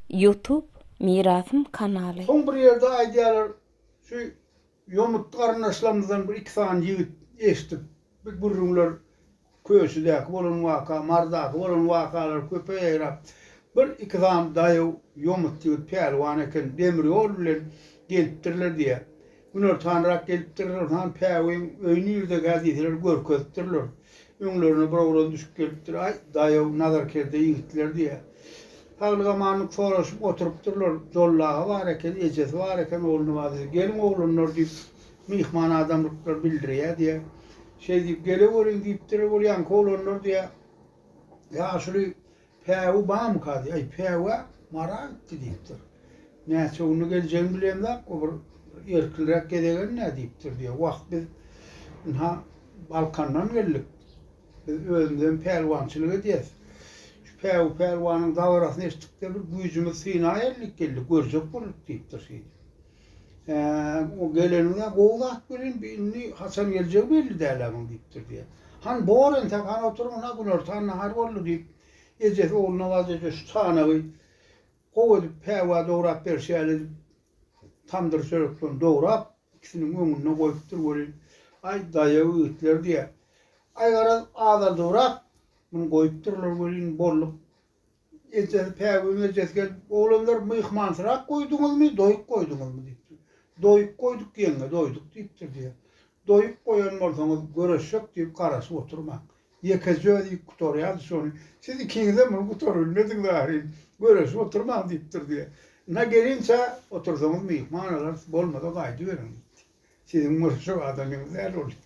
Youtube mirasym kanaly. Soň bir ýerde aýdýarlar şu ýomutly garyndaşlarymyzdan bir iki sany ýigit eşdip bir gürrüňler köçedäki bolan waka mardaky bolan wakalar köpe ýaýrap bir iki sany daýaw ýomut ýigit pälwan eken demir ýol bilen gelipdirler diýýär Günortanrak gelipdirler, onhan päwügiň öýi nirdekä diýseler, görkezipdirler. Öňlerine bir oglan düşüp gelipdir, Aý, daýaw, nazarkerde ýigitler diýýä. Saglyk-amanlyk soraşyp oturypdyrlar. Jollagy bar eken, ejesi bar eken, ogluny bar diýse, Geliň, oglanlar diýip, myhman adamlyklar bildirýä diýýä. Şeý diýip, Geleweriň diýipdirler, ol ýaňky oglanlar diýýä, ýaşuly. Päwi bamyka diý, aý, päwä Mara gitdi diýipdir. Näçe günde geljegini bilemzok, o bir erkinräk gezegen-dä diýipdir diýýär. Wah, biz ynha Balkandan geldik. Biz özümizem pälwançylyk edýäs. Şu päwi pälwanyň dabarasyny eşitdik-de, bir güýjümizi synaýaýlyk geldik, görjek bolduk diýipdir şeýdip. Eee, gelenine gowy zat welin, bi indi haçan geljegi belli däl-ä muň, diýipdir, diýýär. Han, bor entek, han oturyň, ynha, günortan nahar boldy, diýip, ejesi Ogulnawaz eje şu çanagy gowy edip päwa dograp beriş ýaly edip, tamdyr çöreklerini dograp, ikisiniň öňünde goýupdyr welin, Aý, daýaw ýigitler, diýýär. Aý, garaz, azaldybrak muny goýupdyrlar welin, bolluk Ejesi, Päwüniň ejesi gelip, Oglanlar, myhmansyrak goýduňyzmy, doýuk goýduňyzmy? diýipdir. Doýuk goýduk, ýeňňe, doýduk, diýipdir, diýýär. Doýuk goýan bolsaňyz, görüşjek diýip garaşyp oturmaň. Ýekeje özi iýip gutarýardy şony. Siz ikiňizem muny gutarybilmediňiz ahyryn. Görüşip oturmaň, diýipdir, diýýär. Ynha, gelinçä, otursaňyz myhman alarys, bolmasa gaýdyberiň, diýipdir. Siziň görüşjek adamyňyz däl ol, diýipdir.